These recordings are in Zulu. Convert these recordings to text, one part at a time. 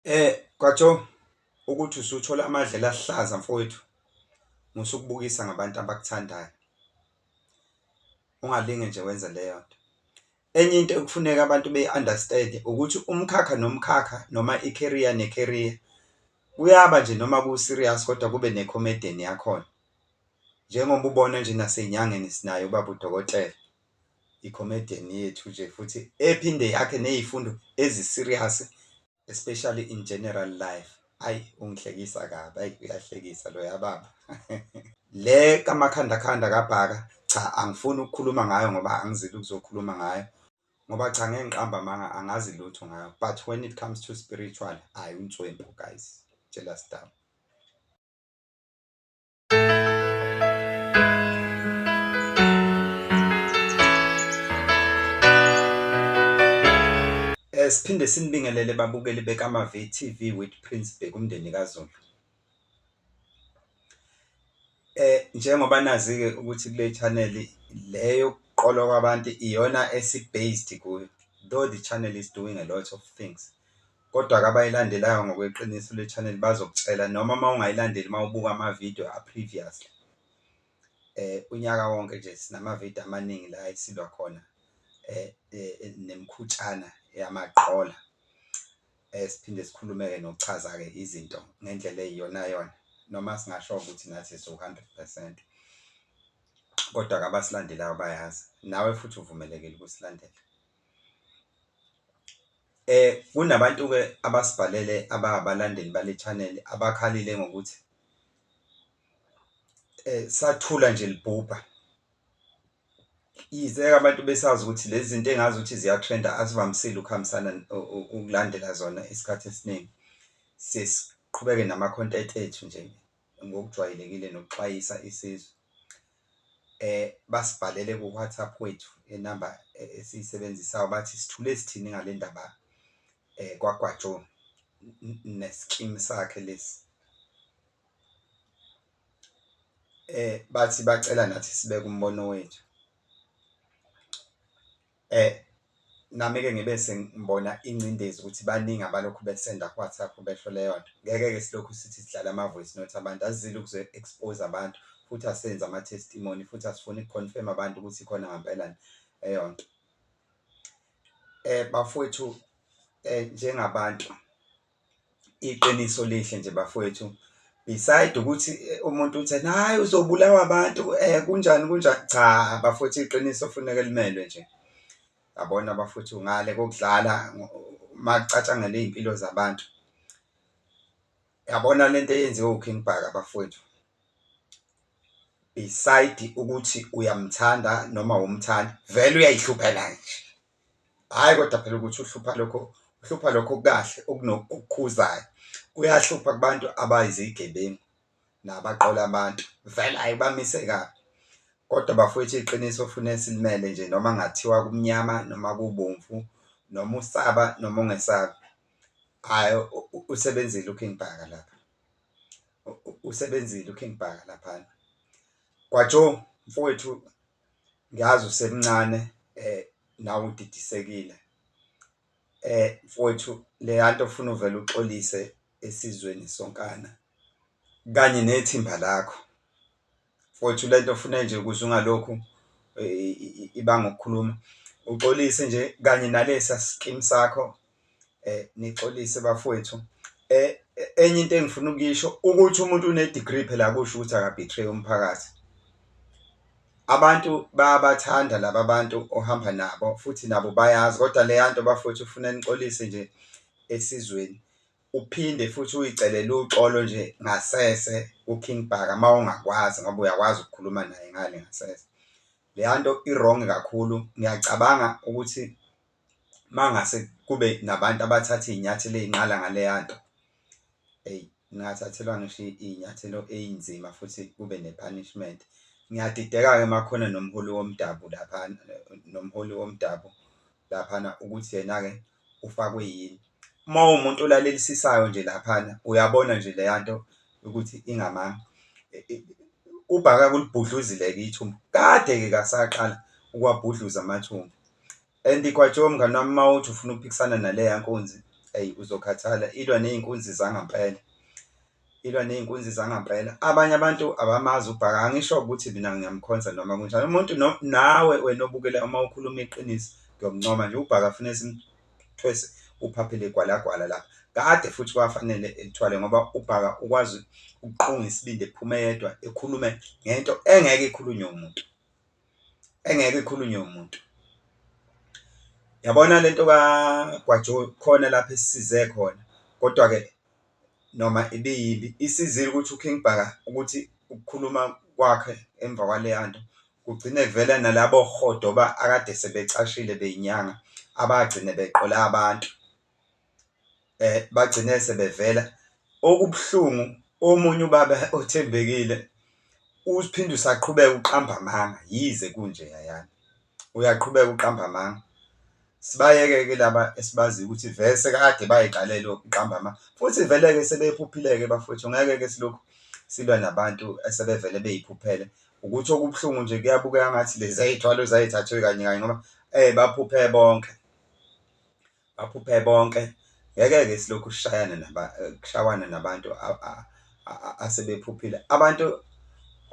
Eh kwaTho ukuthi usuthola amadlela ahlaza mfowethu musukubukisa ngabantu abakuthandayo ungalinge nje wenze leyo nto enye into ekufuneka abantu beyi-understand ukuthi umkhakha nomkhakha noma i-career ne-career kuyaba nje noma ku-serious kodwa kube ne-comedian yakhona njengoba ubona nje nasenyangeni sinayo ubaba udokotela i-comedian yethu nje futhi ephinde yakhe nezifundo ezi-serious especially in general life. Ayi ungihlekisa kabi, ayi uyahlekisa loya baba. Le kamakhanda khanda kabhaka cha angifuni ukukhuluma ngayo ngoba angizile ukuzokhuluma ngayo ngoba cha ngeke ngiqamba amanga angazi lutho ngayo but when it comes to spiritual ayi unswempu guys jealous down. Eh, siphinde sinibingelele babukeli bekaMaVTV with Prince Bheki umndeni kaZulu. Eh njengoba nazi ke ukuthi kule channel leyo kuqolwa kwabantu iyona esi-based kuyo though the channel is doing a lot of things kodwa ke abayilandelayo ngokweqiniso le channel bazokutshela noma uma ungayilandeli uma ubuka ama-video a-previously eh unyaka wonke nje sinama-video amaningi la esilwa khona eh, eh, eh nemkhutshana yamaqola eh siphinde sikhulumeke nokuchaza-ke izinto ngendlela eyiyonayona noma singasho ukuthi nathi siwu-hundred percent kodwa-ke abasilandelayo bayazi nawe futhi uvumelekile ukusilandela Kunabantu-ke abasibhalele ababalandeli bale channel abakhalile ngokuthi sathula nje libhubha. Yize abantu besazi ukuthi lezi zinto engazi ukuthi ziyatrenda azivamisile ukuhambisana ukulandela zona isikhathi esiningi. Siye siqhubeke nama-content ethu nje. ngokujwayelekile nokuxwayisa isizwe eh basibhalele ku WhatsApp wethu enamba eh, esiyisebenzisayo bathi sithule sithini ngale ndaba eh kwagwajo neskim sakhe lesi eh bathi bacela nathi sibeke umbono wethu Eh nami ke ngibe sengibona ingcindezi ukuthi baningi abalokhu besenda ku WhatsApp besho leyo nto. Ngeke ke silokhu sithi sidlala ama voice note abantu asizile ukuzo expose abantu futhi asenzi ama testimony futhi asifuni ku confirm abantu ukuthi khona ngampela yini leyo nto. Eh bafowethu eh njengabantu Iqiniso lihle nje bafwethu beside ukuthi umuntu uthi ena hhayi uzobulawa abantu kunjani kunjani, cha bafwethu iqiniso kufuneke limelwe nje. Yabona bafwethu ngale kokudlala makucatshangelwa izimpilo zabantu, yabona lento eyenziwe uKing Bhaka bafwethu beside ukuthi uyamthanda noma awumthandi vele uyayihlupheka nje. hhayi kodwa phela ukuthi uhlupha lokho uhlupha lokho kahle okunokukhuzayo kuyahlupha kubantu abayizigebengu nabaqola abantu vele ayi bamise kabi kodwa bafowethu iqiniso fune silimele nje noma ngathiwa kumnyama noma kubomvu noma usaba noma ungesabi hhayi usebenzile uking bhaka lapha usebenzile uking bhaka laphana kwajo mfowethu ngiyazi usemncane um nawe udidisekile um mfowethu leya nto ofuna uvele uxolise esizweni sonkana kanye nethimba lakho. Mfowethu le nto ofuna nje ukuze ungalokhu ibanga ukukhuluma uxolise nje kanye nalesiya sikimu sakho Nixolise bafowethu enye into engifuna ukuyisho ukuthi umuntu une-degree phela akusho ukuthi aka-betray umphakathi. Abantu bayabathanda laba bantu ohamba nabo futhi nabo bayazi kodwa leya nto bafowethu kufuna nixolise nje esizweni uphinde futhi uyicelele uxolo nje ngasese ku-King Bhaka mawungakwazi ngoba uyakwazi ukukhuluma naye ngale ngasese. Leya nto i-wrong kakhulu ngiyacabanga ukuthi mangase kube nabantu abathatha izinyathelo ezinqala ngaleyanto eyi ngingathathelwa ngisho izinyathelo ezinzima futhi kube ne-punishment. Ngiyadideka-ke uma kukhona nomholi womdabu laphana nomholi womdabu laphana ukuthi yena-ke ufakwe yini. Uma uwumuntu olalelisisayo nje laphana uyabona nje leyanto ukuthi ingamanga ubhaka ulibhudluzile-ke ithumbu kade-ke kasaqala ukuwabhudluza amathumbu. And Gwajo mngani wami uma uthi ufuna ukuphikisana naleya nkunzi eyi uzokhathala, ilwa ney'nkunzi zangampela, ilwa ney'nkunzi zangampela. Abanye abantu abamazi uBhaka, angisho ukuthi mina ngiyamkhonza noma kunjani, umuntu nawe wena obukela uma ukhuluma iqiniso ngiyokuncoma nje, uBhaka fune simthwese uphaphe legwalagwala lapha. Kade futhi kwafanele elithwale ngoba uBhaka ukwazi ukuqunga isibindi ephume yedwa ekhulume ngento engeke ikhulunywe umuntu. engeke ikhulunywe umuntu yabona lento kaGwajo khona lapho esisize khona kodwa ke noma ibiyimbi isizile ukuthi uKing Bhaka ukuthi ukukhuluma kwakhe emva kwaleya nto kugcine kuvela nalabo rhodoba akade sebecashile beyinyanga abagcine beqola abantu. um bagcine sebevela. Okubuhlungu omunye ubaba othembekile uphinde usaqhubeka uqamba amanga yize kunje yayana uyaqhubeka uqamba amanga. Sibayeke-ke laba esibaziyo ukuthi vele sekade bay'qalele ukuqamba amanga futhi vele-ke sebephuphile-ke bafwethu ngeke-ke silokhu silwa nabantu esebevele bey'phuphela. Ukuthi okubuhlungu nje kuyabukeka ngathi lezi zey'thwalo zay'thathwe kanye kanye ngoba baphuphe bonke. baphuphe bonke ngeke-ke silokhu sishayana naba kushawana nabantu asebephuphile abantu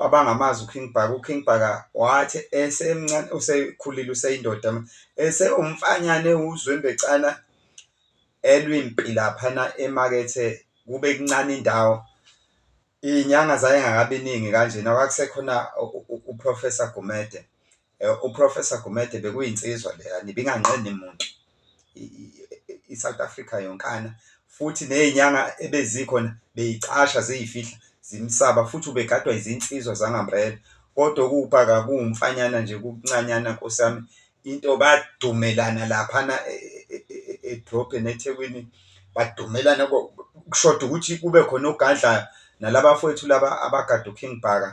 abangamazi uKing Bhaka uKing Bhaka wathi esemncane usekhulile useyindoda ese umfanyane uzwembecana elwimpi laphana emakethe kube kuncane indawo inyanga zayengakabiningi kanjena kwakusekhona uprofessor Gumede Eh, uProfessor Gumede bekuyinsizwa leya nibinganqeni muntu iSouth Africa yonkana futhi nezinyanga ebezikhona beyicasha ziyifihla zimsaba futhi ubegadwa izinsizwa zangamrela kodwa ukuba kakuwumfanyana nje kuncanyana nkosami into badumelana laphana e, e, e, edrobheni eThekwini badumelana kushoda ukuthi kube khona ogadlayo nalabafowethu laba abagada uKing Bhaka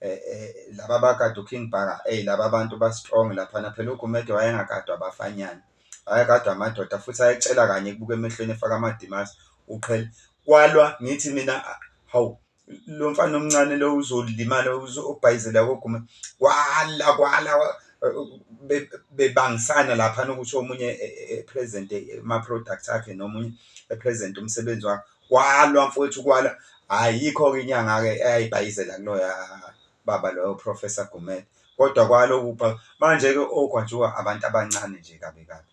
Eh, eh, laba abakade uKing Bhaka eyi laba abantu ba-strong laphana phela uGumede wayengakadwa abafanyana wayekadwa amadoda futhi ayecela kanye kubuka emehlweni efaka amadimasi uqhele kwalwa ngithi mina hawu lo mfana omncane lo uzolimala uzobhayizela kogume kwala kwala bebangisana laphana ukuthi omunye e-, e-, e-, present ama-product akhe nomunye e-present umsebenzi wakhe Kwalwa mfwethu kwala ayikho ke inyanga ke eyayibhayizela kunoya baba loyo Professor Gumede kodwa kwaloku manje ke ogwajuka abantu abancane nje kabi kabi.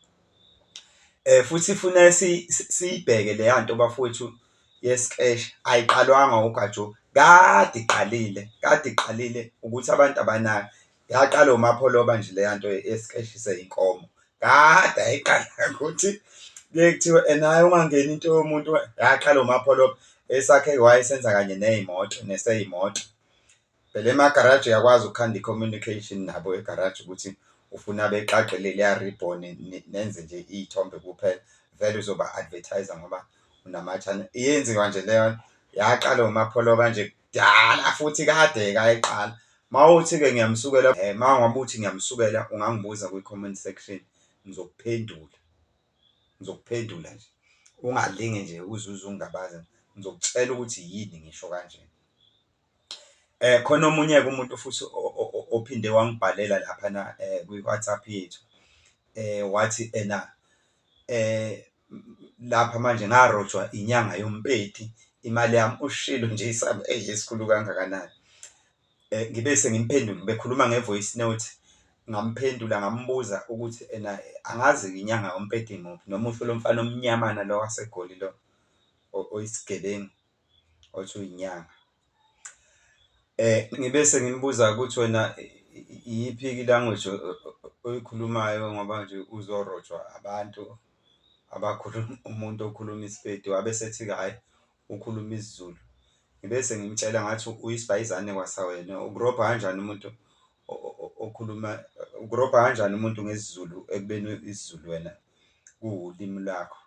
Eh futhi funa siyibheke leya nto bafowethu yesikeshi ayiqalwanga ugajo kade iqalile kade iqalile ukuthi abantu abanayo Yaqala uMapholoba nje leya nto esikehlise inkomo kade ayiqala ukuthi kuye kuthiwe enaye ungangeni into yomuntu yaqala uMapholoba esakhe wayesenza kanye nezimoto neseyimoto phela emagaraji uyakwazi ukukhanda i-communication nabo egaraji ukuthi ufuna bexaqele leya ribbon nenze nje iy'thombe kuphela vele uzoba-advertise ngoba unamathanda yenziwa nje leyo yaqala uMapholoba nje kudala futhi kade-ke ayeqala mawuthi-ke ngiyamsukela um eh, mangabe uthi ngiyamsukela ungangibuza kwi-comment section ngizokuphendula ngizokuphendula nje ungalinge nje uzuze ungabaza ngizokutshela ukuthi yini ngisho kanje eh khona omunye ke umuntu futhi ophinde wangibhalela lapha na eh, kwi WhatsApp yethu eh wathi ena eh lapha manje ngarojwa inyanga yompeti imali yami ushilo nje isaba eyi esikhulu kangakanani um ngibe sengimphendula bekhuluma nge-voice note ngamphendula ngambuza ukuthi ena angazi inyanga yompeti muphi noma usho lo mfana omnyamana lo wasegoli lo oyisigebengu othi uyinyanga. Ngibe sengimbuza ukuthi wena iyiphi i-language oyikhulumayo ngoba nje uzorojwa abantu abakhuluma umuntu okhuluma isiPedi wabe esethi-ke hhayi ukhuluma isiZulu. Ngibe sengimtshela ngathi uyisbhayizane kwasawena ukurobha kanjani umuntu okhuluma ukurobha kanjani umuntu ngesiZulu ekubeni isiZulu wena kuwulimi lakho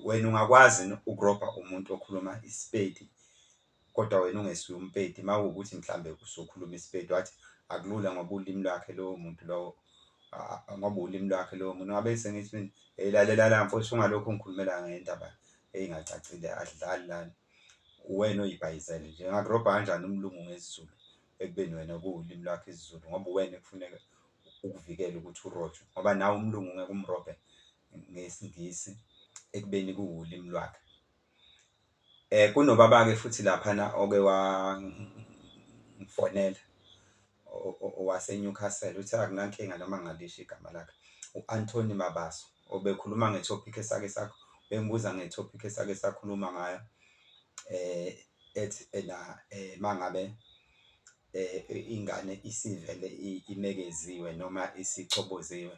wena ungakwazi ukurobha umuntu okhuluma isiPedi kodwa wena ungesiwe umpedi mawukuthi mhlambe usukhuluma isiPedi wathi akulula ngoba ulimi lwakhe lowo muntu lowo ngoba ulimi lwakhe lowo muntu ngabe sengithi mina hey lalela la mfowethu ungalokhu ngikhulumela ngendaba eyingacacile adlali lana uwena oyibhayizele nje ngakurobha kanjani umlungu ngesiZulu ekubeni wena kuwulimi lwakho isiZulu ngoba uwena ekufuneka ukuvikele ukuthi urojwe ngoba nawe umlungu ungeke umrobhe ngesiNgisi ekubeni kuwulimi lwakhe eh kunobaba-ke futhi laphana oke wangifonela owaseNewcastle uthe akunankinga noma ngalisho igama lakhe u-Anthony Mabaso obekhuluma ngetopic esake sakho bengibuza ngetopic esake sakhuluma ngayo eh ethi ena mangabe ingane isivele imekeziwe noma isichoboziwe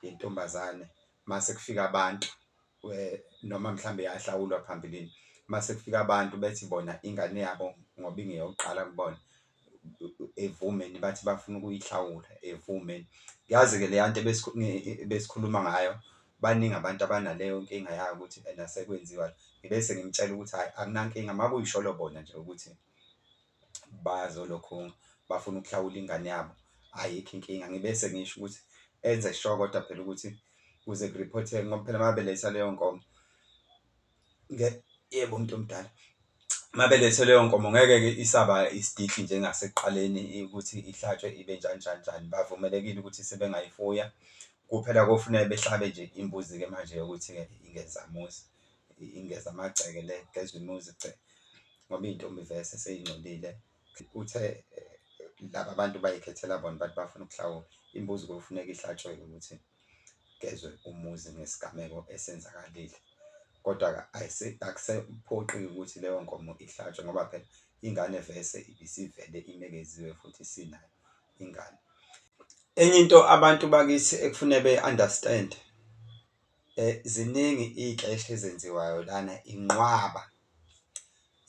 yentombazane mase kufika abantu noma mhlawumbe yahlawulwa phambilini, mase kufika abantu bethi bona ingane yabo ngoba ingeyokuqala kubona evume and bathi bafuna ukuyihlawula evume. Yazi ke leyanto ebesikhuluma ngayo baningi abantu abanaleyo nkinga yayo ukuthi ena sekwenziwa ngibese ngimtshela ukuthi hhayi akunankinga makuyisholo bona nje ukuthi bazolokhu bafuna ukuhlawula ingane yabo ayikho inkinga ngibese ngisho ukuthi enze sure kodwa phela ukuthi kuze kuriphotheke ngoba phela mabeletha leyo nkomo yebo umuntu omdala mabelethe leyo nkomo ngeke-ke isaba isididli njengasekuqaleni ukuthi ihlatshwe ibe njani njani njani, bavumelekile ukuthi sebengayifuya. Kuphela kofuneka behlabe nje imbuzi-ke manje yokuthi-ke ingeza muzi, ingeza amagceke le igeza umuzi gce ngoba iyintombi vese seyingcolile. Uthe laba bantu bayikhethela bona bathi bafuna ukuhlawula, imbuzi kofuneka ihlatshwe-ke ukuthi. kugezwe umuzi ngesigameko esenzakalile. Kodwa-ke akusephoqi-ke ukuthi leyo nkomo ihlatshwe ngoba phela ingane vese ibisivele inekeziwe futhi sinayo ingane. Enye into abantu bakithi ekufune beyi-understand-e ziningi iy'keshi ezenziwayo lana inqwaba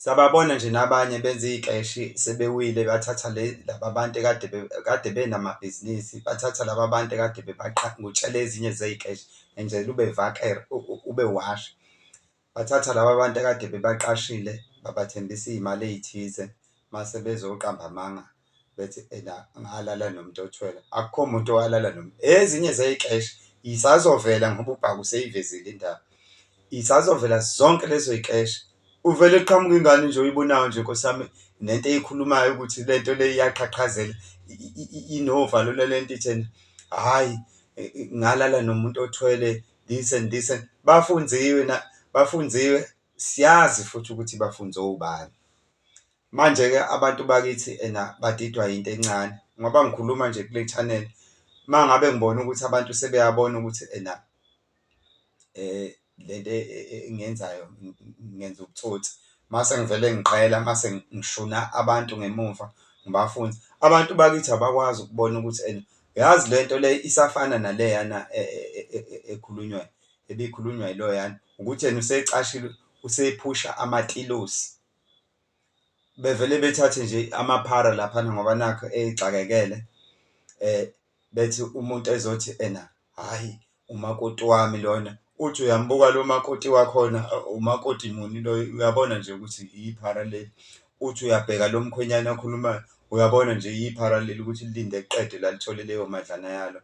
Siyababona nje nabanye benza iy'keshi sebewile bathatha laba bantu ekade kade benamabhizinisi, bathatha laba bantu ekade ngokutshela ezinye zey'keshi ngenzela ube ube washi. Bathatha laba bantu ekade bebaqashile babathembisa iy'mali ey'thize mase bezoqamba amanga. bethi ena ngalala nomuntu othwele akukho muntu owalala noma ezinye zeyixesha isazovela ngoba ubhaka useyivezile indaba isazovela zonke lezo yixesha uvele qhamuka ingane nje oyibonayo nje nkosami nento eyikhulumayo ukuthi lento le iyaqhaqhazela inovalo lento ithena hayi ngalala nomuntu othwele this and this and bafunziwe na bafunziwe siyazi futhi ukuthi bafunze ubani Manje-ke abantu bakithi ena badidwa yinto encane ngoba ngikhuluma nje kule channel uma ngabe ngibona ukuthi abantu sebeyabona ukuthi ena um le nto engiyenzayo ngenza ubutsotsi mase ngivele ngiqela mase ngishuna abantu ngemuva ngibafunze. Abantu bakithi abakwazi ukubona ukuthi ena yazi le nto le isafana naleyana ekhulunywayo ebikhulunywa yiloyana ukuthi yena usecashile usephusha amatilosi. bevele bethathe nje amaphara laphana ngoba nakho exakekele bethi umuntu ezothi ena hhayi umakoti wami lona, uthi uyambuka lo makoti wakhona umakoti muni loyo uyabona nje ukuthi iphara leli, uthi uyabheka lo mkhwenyana akhulumayo uyabona nje iphara leli ukuthi lilinde liqede la lithole leyo madlana yalo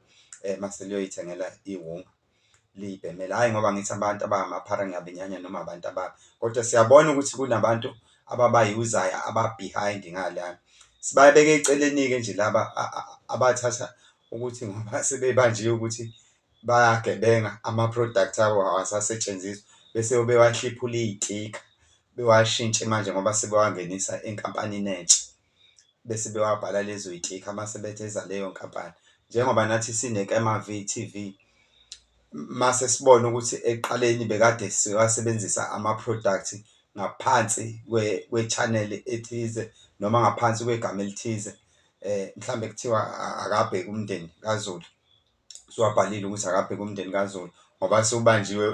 mase liyoyithengela iwunga. liyibhemela hhayi ngoba ngithi abantu abangamaphara ngiyabenyanya noma abantu ababi kodwa siyabona ukuthi kunabantu ababayuzayo aba-behind ngalana sibabeke eceleni-ke nje laba abathatha ukuthi ngoba sebebanjiwe ukuthi bayagebenga ama-product abo awasasetshenziswa bese bewahliphula iy'tikha bewashintshe manje ngoba sebewangenisa enkampanini entsha. bese bewabhala lezo yitikha mase betheza leyo nkampani njengoba nathi sineKema VTV mase sibona ukuthi ekuqaleni bekade siwasebenzisa ama-product ngaphansi kwe-channel ethize noma ngaphansi kwegama elithize um mhlambe kuthiwa akabheke umndeni kaZulu. usuwabhalile ukuthi akabheke umndeni kaZulu ngoba sewubanjiwe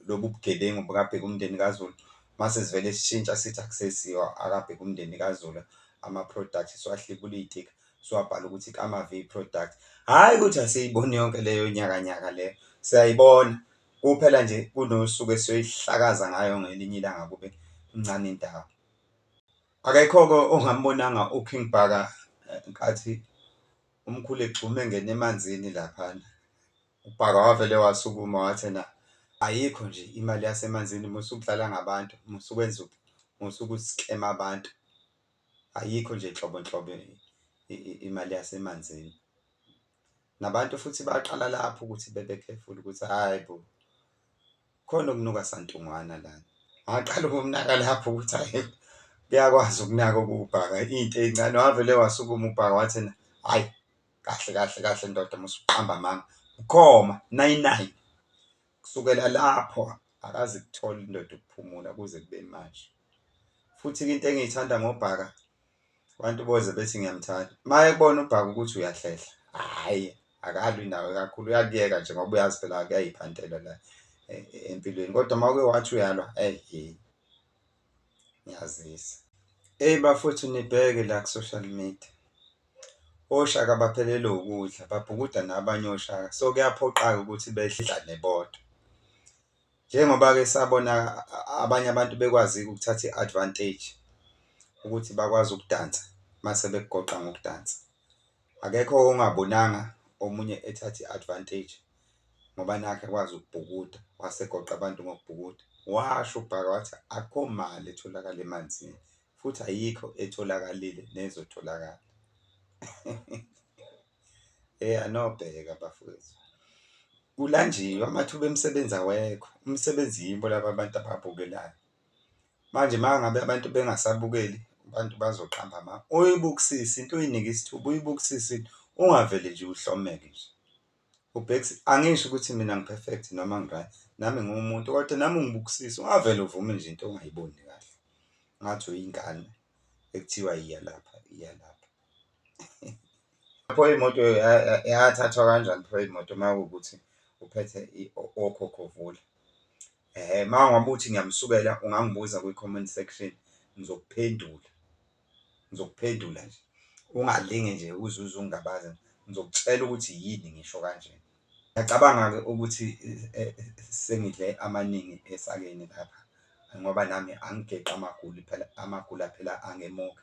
lobu bugebengu bukabheke umndeni kaZulu mase sivele sishintsha sithi akusesiwa akabheke umndeni kaZulu ama-product siwahlibula iy'tika siwabhala ukuthi kama-v product hhayi ukuthi asiyiboni yonke leyo nyakanyaka leyo siyayibona kuphela nje kunosuku esiyoyihlakaza ngayo ngelinye ilanga kube incane indawo akekho-ke ongambonanga uking bhaka eh, nkathi umkhulu egxuma engena emanzini laphana ubhaka wavele wasukuma wathi na ayikho nje imali yasemanzini musa ukudlala ngabantu musa ukwenza musa ukusikema abantu ayikho nje nhlobo nhlobo imali yasemanzini nabantu futhi baqala lapho ukuthi bebe careful ukuthi hayi bo Khona okunuka santungwana lana. Ngaqala ukumnaka lapho ukuthi hayi kuyakwazi ukunaka ukubhaka into encane wavele wasukuma ubhaka wathi na hayi kahle kahle kahle ndoda musuqamba amanga ukhoma nayi nayi kusukela lapho akazi kuthola indoda ukuphumula kuze kube manje futhi into engiyithanda ngobhaka abantu boze bethi ngiyamthanda uma ekubona ubhaka ukuthi uyahlehla hhayi akalwi nawe kakhulu uyakuyeka nje ngoba uyazi phela kuyayiphantela la e, e, empilweni kodwa uma uke wathi uyalwa eyi ngiyazisa eyi bafuthu nibheke la ku-social media oshaka baphelelwe ukudla babhukuda nabanye oshaka so kuyaphoqaka ukuthi bedlane bodwa Njengoba-ke sabona abanye abantu bekwazi-ke ukuthatha i-advantage ukuthi bakwazi ukudansa mase bekugoqa ngokudansa. Akekho ongabonanga omunye ethatha i-advantage ngoba nakhu ekwazi ukubhukuda, wase egoqa abantu ngokubhukuda. Washo uBhaka wathi akukho mali etholakala emanzini futhi ayikho etholakalile nezotholakala. Hey anobheka bafowethu. Kulanjiwe amathuba emisebenzi awekho. Umsebenzi yibo laba abantu ababukelayo. Manje mangabe abantu bengasabukeli abantu bazoqamba ama uyibukisisa into uyinika isithuba uyibukisisa into ungavele nje uhlomeke nje. Ubhekisi angisho ukuthi mina ngiperfect noma ngiryt nami ngiwumuntu kodwa nami ungibukisisa ungavele uvume nje into ongayiboni kahle. Ngathi uyingane ekuthiwa iya lapha iya lapha. Pho imoto yathathwa kanjani pho imoto makuwukuthi uphethe okhokho vule? Hhe uma ngabe uthi ngiyamsukela ungangibuza kwi-comment section ngizokuphendula, ngizokuphendula nje ungalinge nje uze uze ungingabaze ngizokutshela ukuthi yini ngisho kanje. Ngiyacabanga-ke ukuthi sengidle amaningi esakeni lapha ngoba nami angigeqi amaguli phela amagula phela angemuka.